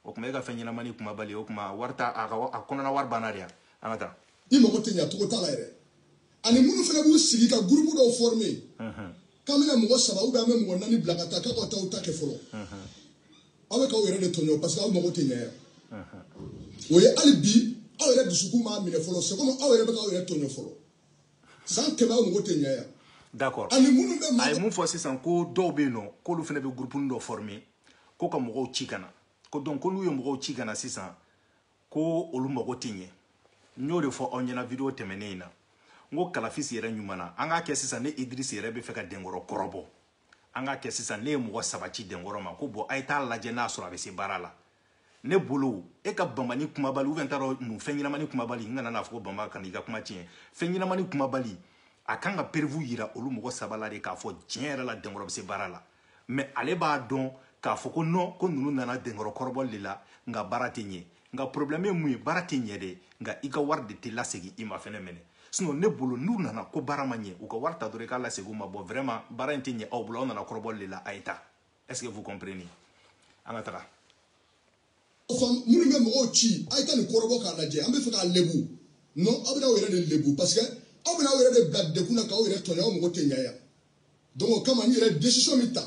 o kuma e ka fɛn ɲɛnamani kumabali o kuma wari ta a ka a kɔnɔna wari banna de yan an ka taa i mago tɛ ɲa cogo t'a la yɛrɛ ani minnu fana b'u sigi ka gurupu dɔw former k'an bɛna mɔgɔ saba ou bien an bɛ mɔgɔ naani bila ka taa k'a ka taa u ta kɛ fɔlɔ aw bɛ k'aw yɛrɛ de tɔɲɔ parce que aw mago tɛ ɲa yan o ye hali bi aw yɛrɛ dusukun m'a minɛ fɔlɔ c'est comme aw yɛrɛ bɛ k'aw yɛrɛ tɔɲɔ fɔlɔ san kɛmɛ aw mago tɛ ɲa yan d'accord ani minnu bɛ a ye mun fɔ sisan ko dɔw bɛ yen nɔ k'olu fana bɛ gurupuni dɔ former ko ka mɔgɔw ci ka na ko donc ko k'olu ye mɔgɔw ci ka na sisan ko olu mago tɛ ɲɛ n y'o de fɔ aw ɲɛna video tɛmɛnen in na n ko kalafisi yɛrɛ ɲuman na an k'a kɛ sisan ne idris yɛrɛ bɛ fɛ ka denkɔrɔ kɔrɔbɔ an k'a kɛ sisan ne ye mɔgɔ saba ci denkɔrɔ ma ko bon a ye t'a lajɛ n'a sɔrɔ a bɛ se baara la ne bolo e ka bamani kumabali ou bien t'a dɔn mun fɛn ɲɛnamani kumabali n kana n'a fɔ ko bama kana i ka kuma tiɲɛ fɛn ɲɛnamani kumabali a kan ka preuve yira olu mɔgɔ saba la de k'a fɔ tiɲɛ yɛrɛ la dɛnkɔrɔ bɛ se baara la mais ale b'a dɔn k'a fɔ ko non ko ninnu nana dɛnkɔrɔ kɔrɔbɔli de la nka baara tɛ ɲɛ nka problème ye mun ye baara tɛ ɲɛ dɛ nka i ka wari de tɛ lasegin i ma phénomène sinon ne bolo n'u nana ko baara ma ɲɛ u ka wari ta dɔrɔn i k'a lasegin u ma bon vraiment baara in tɛ ɲɛ aw bolo aw nana kɔrɔbɔli de la a ye taa est ce que vous comprenez an ka taga faama minnu bɛ mɔgɔw ci a ye taa nin kɔrɔbɔ k'a lajɛ an bɛ fɛ k'a lebu non aw bɛna aw yɛrɛ de lebu parce que aw bɛna aw yɛrɛ de bila degun na k'aw yɛrɛ tɔɲɔ aw mago tɛ ɲɛ yan donc o kama n yɛrɛ décision min ta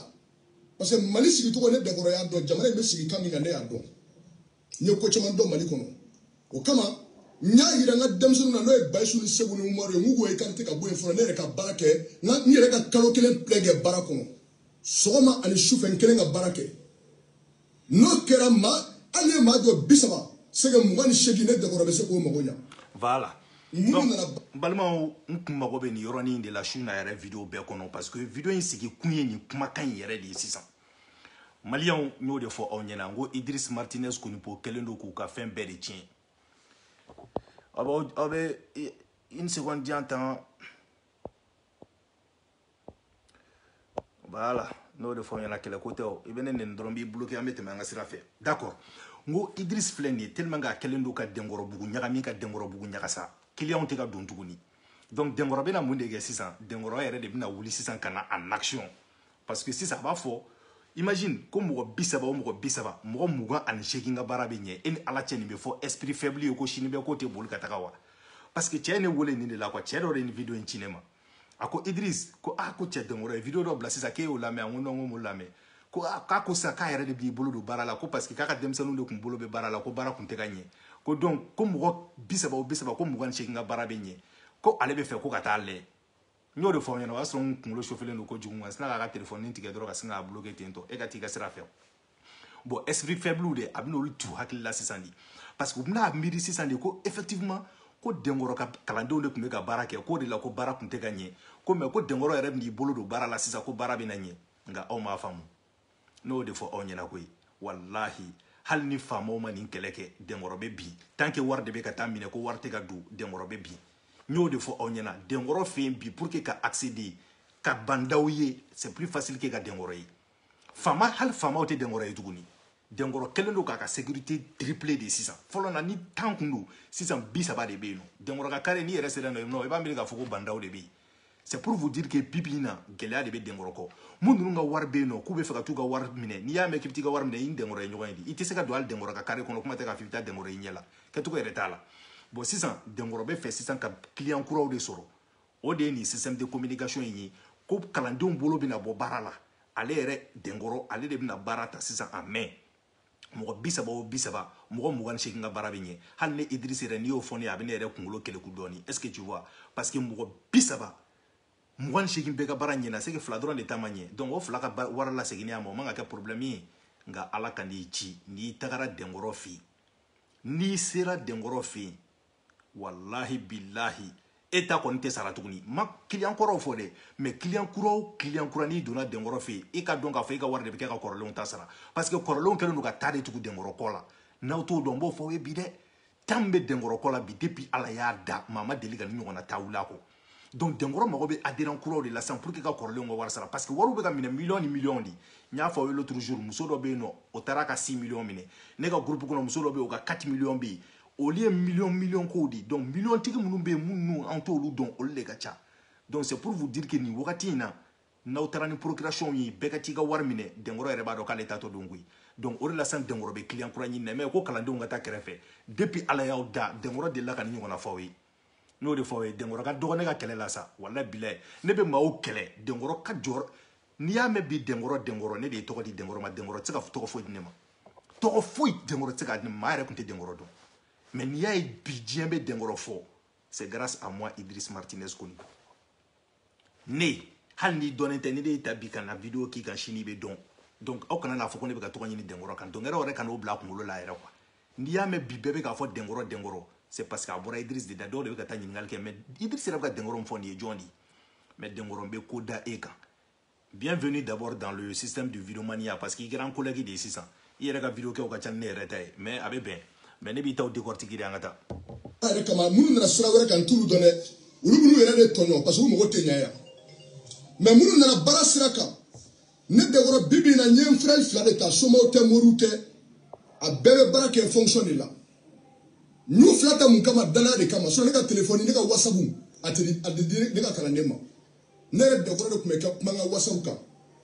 parce que mali sigicogo ne dɛnkɔrɔ y'a dɔn jamana in bɛ sigi kan min kan ne y'a dɔn n ye ko caman dɔn mali kɔnɔ o kama n y'a yira n ka denmisɛnninw na n'o ye bayisu ni segu ni umaru ye n k'u k'u écarter ka bɔ yen fɔlɔ ne yɛrɛ ka baara kɛ n ka n yɛrɛ ka kalo kelen plein kɛ baara kɔnɔ sɔgɔma ani sufɛ n kelen ka baara kɛ n'o kɛra ma hali ne maa dɔ bi saba sɛgɛ mugan ni seegin ne dɛnkɔrɔ bɛ se k'o mago ɲa voilà donc balimaw n kun mago bɛ nin yɔrɔnin de la su na yɛrɛ video bɛɛ kɔnɔ parce que video in sigi kun ye nin kumakan in yɛrɛ de ye sisan maliyɛnw n y'o de fɔ aw ɲɛna n ko idris martinez konipo kɛlen don k'u ka fɛn bɛɛ de tiɲɛ aw bɛ une seconde diyan tan voilà n'o de fɔ aw ɲɛna kɛlɛ ko tɛ o i bɛ ne nɛni dɔrɔn n b'i bloqué an bɛ tɛmɛ an ka sira fɛ d'accord n ko idris filɛ nin ye tellement k'a kɛlen don ka dɛnkɔrɔbugu ɲagami ka dɛnkɔrɔbugu ɲagasa kiliyanw tɛ ka don tuguni donc dɛnkɔrɔ bɛna mun de kɛ sisan dɛnkɔrɔ yɛrɛ de bɛna wuli sisan ka na en action parce que sisan a b'a fɔ imagine ko mɔgɔ bi saba o mɔgɔ bi saba mɔgɔ mugan ani seegin ka baara bɛ ɲɛ e ni ala cɛ nin bɛ fɔ esprit faible ye ko sini bɛ ko tɛ boli ka taga wa parce que cɛ ye ne wele nin de la quoi cɛ dɔ de ye nin video in ci ne ma a ko idris ko ah ko cɛ dɛnkɔrɔ ye video dɔ bila sisan k'e y'o lamɛn n ko non ko n m'o lamɛn ko ah k'a ko sisan k'a yɛrɛ de b'i bolo don baara la ko parce que k'a ka denmisɛnninw de tun bolo bɛ baara la ko baara tun tɛ ka ɲɛ ko donc ko mɔgɔ bi saba o bi saba ko mugan ni seegin ka baara bɛ ɲɛ ko ale bɛ fɛ ko ka taa lajɛ n y'o de fɔ aw ɲɛna o y'a sɔrɔ n kunkolo sofelen don kojugu n sinna k'a ka telefɔni tigɛ dɔrɔn ka sin k'a bloke ten tɔ e ka t'i ka sira fɛ bon esprit faible de a bɛna olu tu hakili la sisan de parce que u bɛna miiri sisan de ko effectivement ko dɛnkɔrɔ ka kalandenw de tun bɛ ka baara kɛ k'o de la ko baara tun tɛ ka ɲɛ ko mais ko dɛnkɔrɔ yɛrɛ bɛn'i bolo don baara la sisan ko baara bɛna ɲɛ nka aw m'a faamu n'o de fɔ aw ɲɛna koyi walahi hali ni faamaw ma nin kɛlɛ kɛ dɛnkɔrɔ bɛ bin tant que wari de bɛ ka taa minɛ ko wari tɛ ka don dɛnkɔrɔ bɛ bin n y'o de fɔ aw ɲɛna dɛnkɔrɔ fɛ yen bi pour que ka accéder ka ba ndaw ye c'est plus facile que ka dɛnkɔrɔ ye faama hali faamaw tɛ dɛnkɔrɔ ye tuguni dɛnkɔrɔ kɛlen don k'a ka sécurité triplé de sisan fɔlɔ na ni tan kun don sisan bi saba de bɛ yen nɔ dɛnkɔrɔ ka kare n'i yɛrɛ sera yen nɔ i b'a miiri k'a fɔ ko ba ndaw de bɛ yen c'est pour vous dire que bibi in na gɛlɛya de bɛ denkɔrɔ kɔ mun ninnu ka wari bɛ yen nɔ k'u bɛ fɛ ka t'u ka wari minɛ n'i y'a mɛn k'i bɛ t'i ka wari minɛ i ni denkɔrɔ ye ɲɔgɔn ye de i tɛ se ka don hali denkɔrɔ ka kare kɔnɔ kuma tɛ k'a fɔ i bɛ taa denkɔrɔ i ɲɛ la kɛcogo yɛrɛ t'a la bon sisan denkɔrɔ bɛ fɛ sisan ka client kuraw de sɔrɔ o de ye nin système de communication in ye ko kalandenw bolo bɛna bɔ baara la ale yɛrɛ denkɔrɔ ale de bɛna baara ta sisan a mɛn mɔgɔ bi saba o bi saba mɔgɔ mugan ni seegin ka baara bɛ ɲɛ hali ne Idriss yɛrɛ n'i y'o fɔ ne ye a bɛ ne yɛrɛ kunkolo keleku dɔɔni est ce que tu vois parce que mɔgɔ bi saba mugan ni seegin bɛɛ ka baara ɲɛna c'est que fila dɔrɔn de ta ma ɲɛ donc o fila ka wari laseginni a ma o man ka kɛ problème ye nka ala kan'i ci n'i tagara dɛnkɔrɔ fɛ yen n'i sera dɛnkɔrɔ fɛ yen walahi bilahi e ta kɔni tɛ sara tuguni n ma client kɔrɔw fɔ dɛ mais client kura o client kura n'i donna denkɔrɔ fɛ yen i k'a dɔn k'a fɔ i ka wari de bɛ kɛ ka kɔrɔlenw ta sara parce que kɔrɔlenw kɛlen don ka ta de tugu denkɔrɔ kɔ la n'aw t'o dɔn n b'o fɔ aw ye bi dɛ ta min bɛ denkɔrɔ kɔ la bi depuis ala y'a da maa ma deli ka nin ɲɔgɔnna ta wuli a kɔ donc dɛnkɔrɔ mago bɛ adhérent kuraw de la sisan pour que ka kɔrɔlenw ka wari sara parce que wariw bɛ ka minɛ miliyɔn ni miliyɔn de n y'a fɔ aw ye l'autre jour muso dɔ bɛ yen nɔ o taara ka 6 miliyɔn minɛ ne ka groupe kɔnɔ muso dɔ bɛ yen o ka 4 miliyɔn bɛ yen olu ye miliyɔn miliyɔn kow de donc miliyɔn tigi minnu bɛ yen minnu an t'olu dɔn olu de ka ca donc c'est pour vous dire que nin wagati in na n'aw taara ni procuration ye bɛɛ ka t'i ka wari minɛ dɛnkɔrɔ yɛrɛ b'a dɔn k'ale taatɔ don koyi donc o de la sisan dɛnkɔrɔ bɛ client kura ɲini na mais ko kalandenw ka taa kɛrɛfɛ depuis ala y'aw da dɛnkɔrɔ delila ka nin ɲɔgɔnna fɔ aw ye n y'o de fɔ aw ye denkɔrɔ ka dɔgɔ ne ka kɛlɛ la sa walahi bilahi ne bɛ maaw kɛlɛ denkɔrɔ ka jɔrɔ n'i y'a mɛn bi denkɔrɔ denkɔrɔ ne de ye tɔgɔ di denkɔrɔ ma denkɔrɔ tɛ se ka tɔgɔ foyi di ne ma tɔgɔ foyi denkɔrɔ tɛ se k'a di ne ma maa yɛrɛ tun tɛ denkɔrɔ dɔn mais n'i y'a ye bi diɲɛ bɛ denkɔrɔ fɔ c'est grâce à moi Idriss Martinez Koni ne hali n'i dɔnnen tɛ ni ne y'i ta bi ka na vidéo k'i kan sini i bɛ dɔn donc aw kana n'a fɔ ko ne bɛ ka tɔgɔ ɲini dɛnkɔrɔ kan dɛnkɔrɔ yɛrɛ kan'o bila a kunkolo la yɛrɛ quoi n'i y'a mɛn bi bɛɛ bɛ k'a fɔ dɛnkɔrɔ dɛnkɔrɔ c'est parce que a bɔra Idriss de da dɔw de bɛ ka taa ɲininkali kɛ mais Idriss yɛrɛ bɛ ka dɛnkɔrɔ min fɔ nin ye jɔn de ye mais dɛnkɔrɔ n bɛ ko da e kan bienvenue d'abord dans le système du vidéomania parce que i kɛra an collègue de ye sisan i yɛrɛ ka vidéo kɛw ka ca ni ne yɛrɛ ta ye mais a bɛ bɛn mais ne b'i taw décortiquer dɛ an ka taa yɛrɛ kama minnu nana sira wɛrɛ kan n t'olu dɔn dɛ olu minnu yɛrɛ de tɔɲɔ parce que u mago tɛ ɲa yan mais minnu nana baara sira kan ne denkɔrɔ bibi in na n ye n frère fila de ta somaw tɛ moriw tɛ a bɛɛ bɛ baara kɛ fonction de la n y'u fila ta mun kama danaya de kama sinon ne ka telefɔni ne ka whatsapp a tɛ di ne ka kalanden ma ne yɛrɛ denkɔrɔ de tun bɛ kɛ kuma n ka whatsapp kan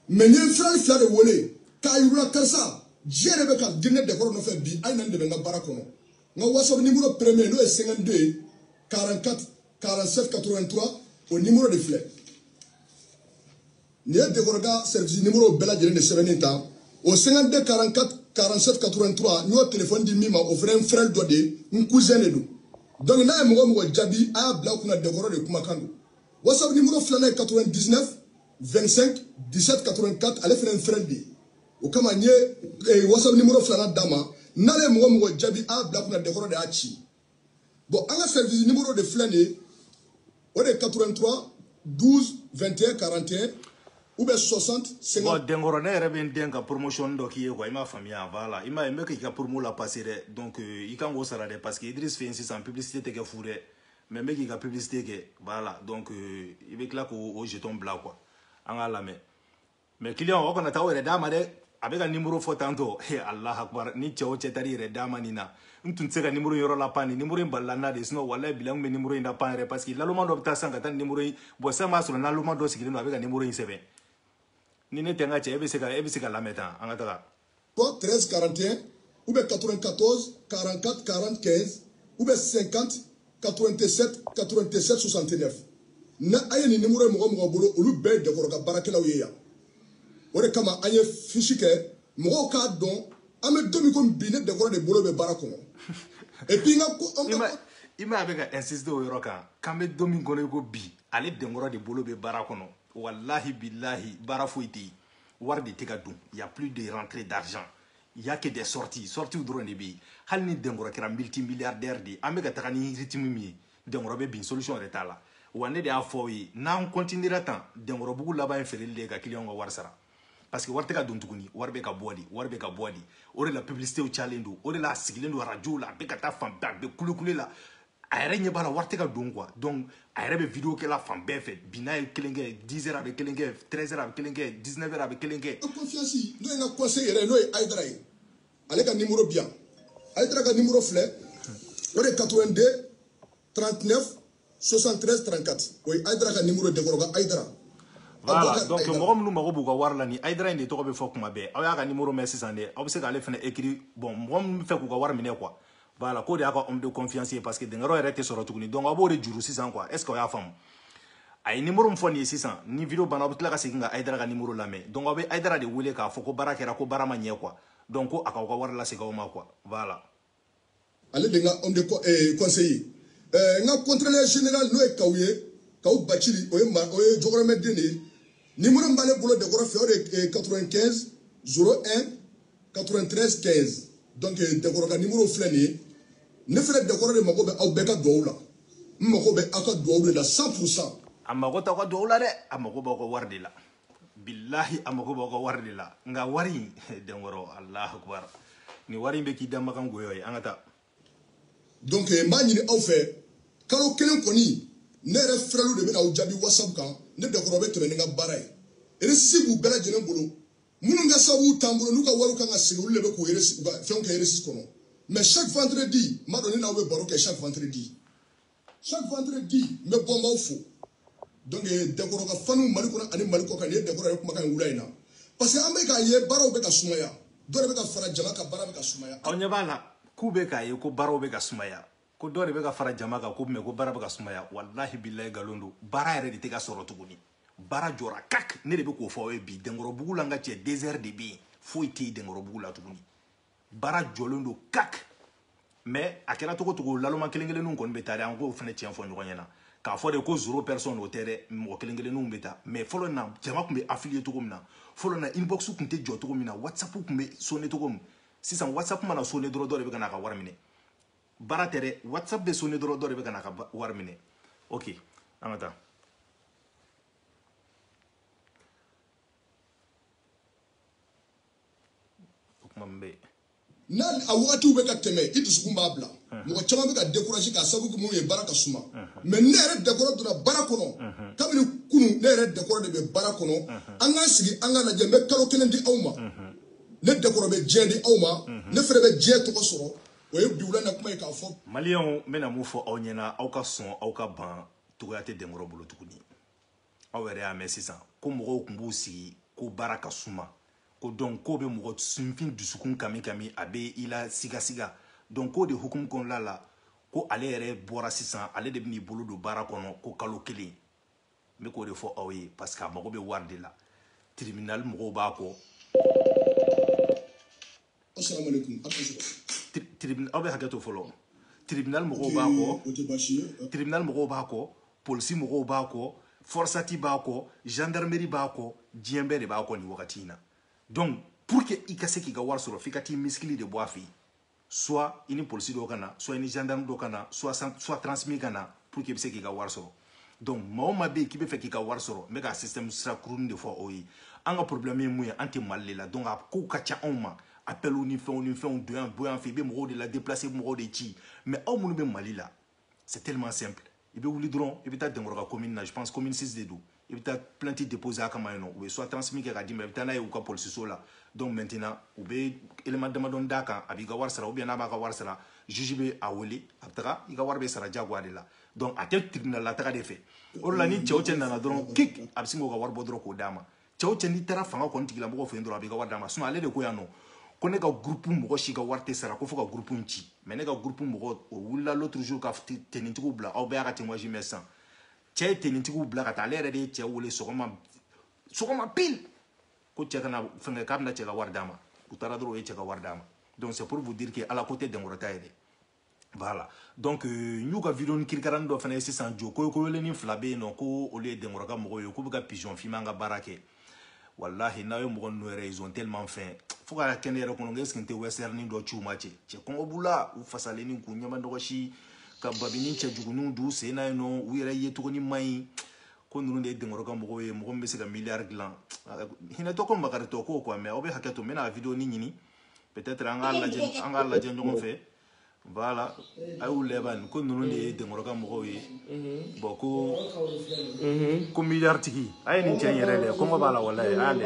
mais n ye n frère fila de wele k'a yir'u la karisa diɲɛ de bɛ ka di ne denkɔrɔ nɔfɛ bi a ye na n dɛmɛ n ka baara kɔnɔ n ka whatsapp nimoro premier n'o ye 52 ye 44 47 83 o nimoro de filɛ nin ye denkɔrɔ ka service nimoro bɛɛ lajɛlen de sɛbɛnnen ta o 52 44 47 83 n y'o telefɔni di min ma o fana ye n frère dɔ de ye n cousin de don donc n'a ye mɔgɔ mɔgɔ jaabi a y'a bila kunna denkɔrɔ de kumakan don whatsapp nimoro filanan ye 99 25 17 84 ale fana ye n frère de ye o kama n ye eh, whatsapp nimoro filanan d'a ma n'ale ye mɔgɔ mɔgɔ jaabi a bila kunna denkɔrɔ de y'a ci bon an ka service nimoro de filɛ nin ye o de ye 83 12 21 41 ou bien 60 50 bon denkɔrɔ ne yɛrɛ bɛ n den ka promotion dɔ k'i ye quoi i m'a faamuya voilà i m'a ye n bɛ k'i ka promo la passer dɛ donc euh, i kan k'o sara dɛ parce que Idriss fɛ yen sisan publicité tɛ kɛ fu dɛ mais n bɛ k'i ka publicité kɛ voilà donc euh, i bɛ tila k'o jeton bila quoi an k'a lamɛn mais client o kana taa o yɛrɛ d'a ma dɛ a bɛ ka nimoro fɔ tantôt he allah akbar ni cɛ o cɛ taar'i yɛrɛ d'a ma nin na n tun tɛ se ka nimoro yɔrɔ la pan nin nimoro in balila n na de sinon walayi bilayi n tun bɛ nimoro in la pan yɛrɛ parce que laloma dɔ bɛ taa sisan ka taa nin nimoro in bon sisan b'a sɔrɔ laloma dɔ sigilen don a bɛ ka nimoro in sɛbɛn ni ne tɛ n ka cɛ e bɛ se ka e bɛ se ka lamɛn tan an ka taga Code 13 41 ou bien 94 44 40 15 ou bien 50 87 87 69 na a ye nin nimoro ye mɔgɔ mɔgɔ bolo olu bɛɛ ye denkɔrɔ ka baarakɛlaw ye yan o de kama an ye fiche kɛ mɔgɔw k'a dɔn an bɛ don min ko bi ne denkɔrɔ de bolo bɛ baara kɔnɔ et puis n ka ko an ka i ma a bɛ ka insister o yɔrɔ kan k'an bɛ don min kɔnɔ i ko bi ale denkɔrɔ de bolo bɛ baara kɔnɔ walahi bilahi baara foyi tɛ yen wari de tɛ ka don y a plus de rentrée d'argent il y a que des sorties sorties dɔrɔn de bɛ yen hali ni denkɔrɔ kɛra multi milliardaire de ye an bɛ ka taga ni rythme min ye denkɔrɔ bɛ bin solution yɛrɛ t'a la wa ne de y'a fɔ aw ye n'an continuera tan denkɔrɔbugu laban ye feereli de ye ka client ka wari sara parce que wari tɛ ka don tuguni wari bɛ ka bɔ de wari bɛ ka bɔ de o de la publicité cayalen don o de la a sigilen don radio la a bɛ ka taa fan bɛɛ a bɛ kulekule la a yɛrɛ ɲɛ b'a la wari tɛ ka don quoi donc a yɛrɛ bɛ video kɛla fan bɛɛ fɛ bi n'a ye kelen kɛ 10 heures a bɛ kelen kɛ 13 heures a bɛ kelen kɛ 19 heures a bɛ kelen kɛ. confiance n'o ye n ka conseiller yɛrɛ n'o ye ayidara ye ale ka nimoro bɛ yan ayidara ka nimoro filɛ o de ye 82 39 73 34 o ye ayidara ka nimoro ye denkɔrɔ ka ayidara. voilà donc mɔgɔ minnu mago b'u ka wari la ni ayidara in de tɔgɔ bɛ fɔ kuma bɛɛ aw y'a ka nimoro mɛn sisan dɛ aw bɛ se k'ale fana écrit bon mɔgɔ minnu bɛ fɛ k'u ka wari minɛ quoi. voilà k'o de y'a ka homme de confiance ye parce que denkɔrɔ yɛrɛ tɛ sɔrɔ tuguni donc a b'o de juru sisan quoi est ce que aw y'a faamu a ye nimoro min fɔ nin ye sisan ni video banna aw bɛ tila ka segin ka ayidara ka nimoro lamɛn donc aw bɛ ayidara de wele k'a fɔ ko baara kɛra ko baara ma ɲɛ quoi donc ko a k'aw ka wari lasegin aw ma quoi voilà. ale de n ka homme de eh, conseiller eh, n ka contrôleur général n'o ye kaw ye kaw baciri o ye ma o ye jɔkɔrɔmɛden de ye nimoro min b'ale bolo denkɔrɔ fɛ o de ye 95 01 93 15 donc euh, denkɔrɔ ka nimoro filɛ nin ye ne fɛnɛ denkɔrɔ de mago bɛ aw bɛɛ ka duwawu la n mago bɛ aw ka duwawu de la 100 pourcent a mago t'aw ka duwawu la dɛ a mago b'aw ka wari de la bilahi a mago b'aw ka wari de la nka wari in denkɔrɔ alahu akbar nin wari in bɛ k'i da makan goyɔ ye an ka taa donc n b'a ɲini aw fɛ kalo kelen kɔni ne yɛrɛ frèrelu de bɛna aw jaabi whatsapp kan ne denkɔrɔ bɛ tɛmɛ ni n ka baara ye resi b'u bɛɛ lajɛlen bolo minnu ka sababu t'an bolo n'u ka wariw kan ka segin olu de bɛ k'u u ka fɛnw kɛ eresi kɔnɔ mais chaque vendredi n b'a dɔn ne n'aw bɛ baro kɛ chaque vendredi chaque vendredi n bɛ bɔ n b'aw fo donc denkɔrɔ ka faniw mali kɔnɔ ani mali kɔkan nin ye denkɔrɔ ye kumakan in wula in na parce que an bɛ k'a ye baaraw bɛ ka sumaya dɔ de bɛ ka fara jama kan baara bɛ ka sumaya. aw ɲɛ b'a la k'u bɛ k'a ye ko baaraw bɛ ka sumaya ko dɔ de bɛ ka fara jama kan ko mais ko baara bɛ ka sumaya walahi bilayi nkalon don baara yɛrɛ de tɛ ka sɔrɔ tuguni. baara jɔra kak ne de bɛ k'o fɔ aw ye bi denkɔrɔbugu la n ka cɛ désert de bɛ yen foyi tɛ yen denkɔrɔbugu la tuguni baara jɔlen don kak mais a kɛra cogo cogo laloma kelen kelenninw kɔni bɛ taa dɛ an k'o fana tiɲɛ fɔ ɲɔgɔn ɲɛna k'a fɔ de ko zéro personne o tɛ dɛ mɔgɔ kelen kelenninw bɛ taa mais fɔlɔ na jama tun bɛ affluer cogo min na fɔlɔ na inbox tun tɛ jɔ cogo min na whatsapp tun bɛ sonne cogo min sisan whatsapp mana sonne dɔrɔn dɔ de bɛ ka na a ka wari minɛ baara tɛ dɛ whatsapp bɛ sonne dɔrɔn dɔ de bɛ ka na ka wari minɛ ok an ka taa o kuma min bɛ yen n'a a wagatiw bɛ ka tɛmɛ i dusukun b'a bila mɔgɔ caman bɛ ka décourager k'a sababu kɛ mun ye baara ka suma mais ne yɛrɛ denkɔrɔ donna baara kɔnɔ kabini kunu ne yɛrɛ denkɔrɔ de bɛ baara kɔnɔ an k'an sigi an ka lajɛ n bɛ kalo kelen di aw ma ne denkɔrɔ bɛ diɲɛ di aw ma ne fɛnɛ bɛ diɲɛ tɔgɔ sɔrɔ o ye bi wula na kuma ye k'a fɔ maliyɛnw n bɛna mun fɔ aw ɲɛna aw ka sɔn aw ka ban cogoya tɛ denkɔrɔ bolo tuguni aw yɛrɛ y'a mɛn sisan ko mɔgɔw tun b'u sigi ko baara ka suma ko donc k'o bɛ mɔgɔ sinfin dusukun kami kami a bɛ i la sigasiga donc k'o de hukumu kɔnɔla la ko ale yɛrɛ bɔra sisan ale de bɛn'i bolo don baara kɔnɔ ko kalo kelen n bɛ k'o de fɔ aw ye parce que a mago bɛ wari de la tribunal mɔgɔw b'a kɔ aw bɛ hakɛ to fɔlɔ tribunal mɔgɔw b'a kɔ tribunal mɔgɔw b'a kɔ polisi mɔgɔw b'a kɔ forsati b'a kɔ gendarmerie b'a kɔ diɲɛ bɛɛ de b'a kɔ nin wagati in na donc pour que i ka se k'i ka wari sɔrɔ f'i ka t'i misikili de bɔ a fɛ yen soit i ni polisi dɔ ka na soit i ni gendarme dɔ ka na soit soit transmis ka na pour que i bɛ se k'i ka wari sɔrɔ donc maa o maa bɛ yen k'i bɛ fɛ k'i ka wari sɔrɔ n bɛ ka système sira kurunin de fɔ aw ye an ka problème ye mun ye an tɛ mali de la donc a kow ka ca anw ma appelw ni fɛnw ni fɛnw don yan bɔ yan f'i bɛ mɔgɔw de la déplacer i bɛ mɔgɔw de ci mais aw minnu bɛ mali la c'est tellement simple i bɛ wuli dɔrɔn i bɛ taa denkɔrɔ ka commune na je pense commune 6 de don i bɛ taa plainte déposer a kama yen nɔ u bɛ soit transmis kɛ ka d'i ma i bɛ taa n'a ye u ka polisiso la donc maintenant u bɛ élément damadɔni d'a kan a b'i ka wari sara ou bien n'a b'a ka wari sara juge bɛ a wele a bɛ taga i ka wari bɛ sara diyagoya de la donc a tɛ tribunal la taga de fɛ o de la ni cɛ o cɛ nana dɔrɔn kik a bɛ sin k'o ka wari bɔ dɔrɔn k'o d'a ma cɛ o cɛ n'i taara fanga kɔni tigilamɔgɔ fɛ yen dɔrɔn a b'i ka wari d'a ma sinɔn ale de ko yan nɔ ko ne ka gurupu mɔgɔ si ka wari tɛ sara ko fo ka gurupu in ci mais ne ka gurupu mɔgɔ o wulila l'autre jour ka tenitigiw bila aw bɛɛ y'a ka témoignage mɛn sisan cɛ ye tenitigiw bila ka taa ale yɛrɛ de ye cɛ wele sɔgɔma sɔgɔma pile ko cɛ kana fɛnkɛ k'a bɛna cɛ ka wari d'a ma u taara dɔrɔn o ye cɛ ka wari d'a ma donc c'est pour vous dire que ala ko tɛ denkɔrɔ ta ye dɛ voilà donc euh, n y'u ka videonin kirikaranin dɔ fana ye sisan jo koyokoyolenni fila bɛ yen nɔ ko olu ye denkɔrɔ ka mɔgɔw ye k'u bɛ ka pigeon fiman ka baara kɛ walahi n'aw ye mɔgɔ ninnu yɛrɛ ils ont tellement faim fo ka kɛ ne yɛrɛ kɔnɔ ko est ce que n tɛ westernin dɔ ci u ma cɛ cɛ kɔngɔ b'u la u fasalenni k'u ɲɛma nɔgɔsi ka babini cɛjuguninw d'u sen na yen nɔ u yɛrɛ yecogonin man ɲi ko ninnu de ye denkɔrɔ ka mɔgɔw ye mɔgɔ min bɛ se ka miliyari dilan hinɛtɔ ko makaritɔ ko quoi mais aw bɛ hakɛ to n bɛna videonin ɲini peut-être an k'a lajɛ an k'a lajɛ ɲɔgɔn fɛ voilà a y'u lɛ bani ko ninnu de ye denkɔrɔ ka mɔgɔw ye bɔn ko ko miliyari tigi a ye nin cɛ in yɛrɛ lɛ kɔngɔ b'a la walayi a y'a lɛ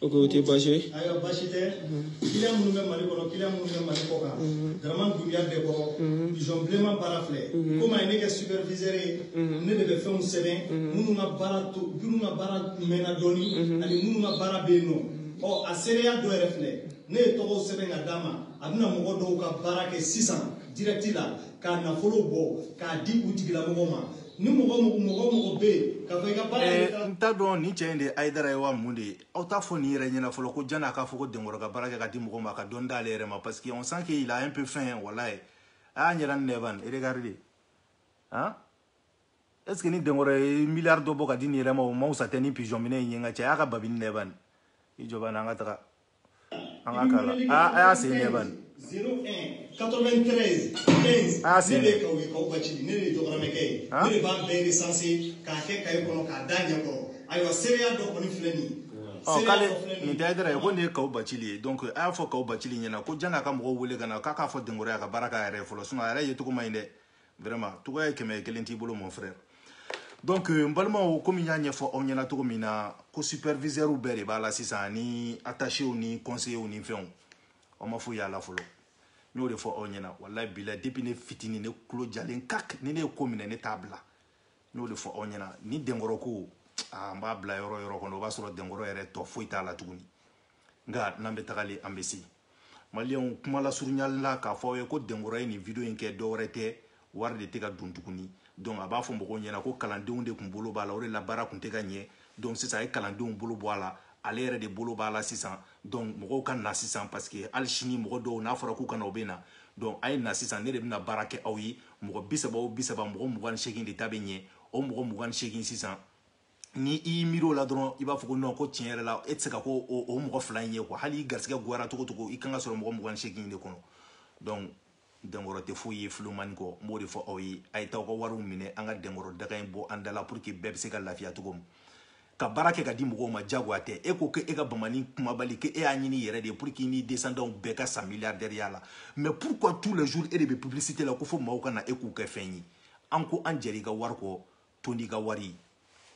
o ko o tɛ baasi ye ayiwa baasi tɛ kiliyan minnu bɛ mali kɔnɔ kiliyan minnu bɛ mali kɔkan daraman dunya denkɔrɔ pigeon bilenman baara filɛ komi a ye ne kɛ superviseur ye ne de bɛ fɛnw sɛbɛn minnu ka baara to minnu ka baara mɛnna dɔɔni ani minnu ka baara bɛ yen nɔ ɔ a seereya dɔ yɛrɛ filɛ ne ye tɔgɔw sɛbɛn ka d'a ma a bɛna mɔgɔ dɔw ka baara kɛ sisan direct la k'a nafolo bɔ k'a di u tigilamɔgɔ ma ni mɔgɔ mɔgɔ mɔgɔ bɛ yen ka fɔ i ka baara ye eh, n t'a dɔn nin cɛ in de ye ayidara ye wa mun de ye aw t'a fɔ nin yɛrɛ ɲɛna fɔlɔ ko janni a k'a fɔ ko denkɔrɔ ka baara kɛ ka di mɔgɔ ma ka dɔɔni d'ale yɛrɛ ma parce que on sent qu'il a un peu faim walayi a y'a ɲɛda lɛ ban regardez han est ce que ni denkɔrɔ ye miliyari dɔ bɔ ka di nin yɛrɛ ma o ma fisa tɛ ni pigeon minɛ in ye n ka cɛ a y'a ka babini lɛ ban i jɔ ban an ka taga An k'a kalan. A a y'a sen lɛ bani. 01 93 15 a y'a sen ne bɛ kaw ye kaw bacili ne de programme kɛ ye ne de b'a bɛɛ recenser k'a kɛ kaye kɔnɔ k'a d'a ɲɛ kɔrɔ ayiwa seereya dɔ kɔni filɛ nin ye k'ale nin tɛ ayidara ye ko nin ye kaw bacili ye donc a y'a fɔ kaw bacili ɲɛna ko janni a ka mɔgɔw wele ka na k'a k'a fɔ denkɔrɔ ye a ka baara k'a yɛrɛ ye fɔlɔ sinon a yɛrɛ yecogo man ɲi dɛ vraiment tɔgɔya ye kɛmɛ kelen t'i bolo mon frère donc euh, n balimaw komi n y'a ɲɛfɔ aw ɲɛna cogo min na ko supervisɛriw bɛɛ de b'a la sisan ni attachew ni conseillew ni fɛnw aw ma foyi y'a la fɔlɔ n y'o de fɔ aw ɲɛna walayi bila depuis ne fitini ne tulo jalen kak ni ne ye ko minɛ ne t'a bila n y'o de fɔ aw ɲɛna ni denkɔrɔ ko aa n b'a bila yɔrɔ yɔrɔ kɔnɔ o b'a sɔrɔ denkɔrɔ yɛrɛ tɔ foyi t'a la tuguni nka n'an bɛ tagalen an bɛ se maliyɛnw kuma lasurunyali la k'a fɔ aw ye ko dɛnkɔrɔ ye nin video in kɛ dɔwɛrɛ tɛ wari de tɛ ka don tuguni donc a b'a fɔ mɔgɔw ɲɛna ko kalandenw de tun bolo b'a la o de la baara tun tɛ ka ɲɛ donc sisan a ye kalandenw bolo bɔ a la ale yɛrɛ de bolo b'a la sisan donc mɔgɔw ka na sisan parce que hali sini mɔgɔ dɔw n'a fɔra k'u ka na u bɛ na donc a ye na sisan ne de bɛna baara kɛ aw ye mɔgɔ bi saba o bi saba mɔgɔ mugan ni seegin de ta bɛ ɲɛ o mɔgɔ mugan ni seegin sisan ni i y'i miiri o la dɔrɔn i b'a fɔ ko non ko tiɲɛ yɛrɛ la e tɛ se ka kɛ o, o mɔgɔ fila in ye quoi hali i garisigɛ goyara cogo cogo i kan ka sɔrɔ mɔgɔ mugan ni seegin de kɔnɔ donc dɛnkɔrɔ tɛ foyi ye filomani kɔ n b'o de fɔ aw ye a ye taa aw ka wariw minɛ an ka dɛnkɔrɔ daga in bɔ an da la pour que bɛɛ bɛ se ka lafiya cogo min ka baara kɛ ka di mɔgɔw ma jagoya tɛ e ko ko e ka bamani kumabali ko e y'a ɲini i yɛrɛ de ye pour que i n'i descendants bɛɛ ka sa milliardaire ya la mais pourquoi tous les jours e de bɛ publicité la ko fo maaw ka na e k'u kɛ fɛn ye an ko an jɛra i ka wari kɔ tondi ka wari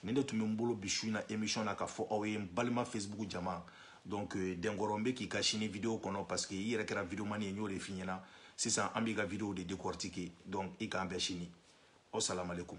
nin de tun bɛ n bolo bi su in na émission na ka fɔ aw ye n balima facebook jama donc euh, dɛnkɔrɔ n bɛ k'i ka sini video kɔnɔ parce que i yɛrɛ kɛra videomani ye n y'o de f'i ɲɛna sisan an b'i ka video de décortiquer donc i k'an bɛn sini aw salamalekum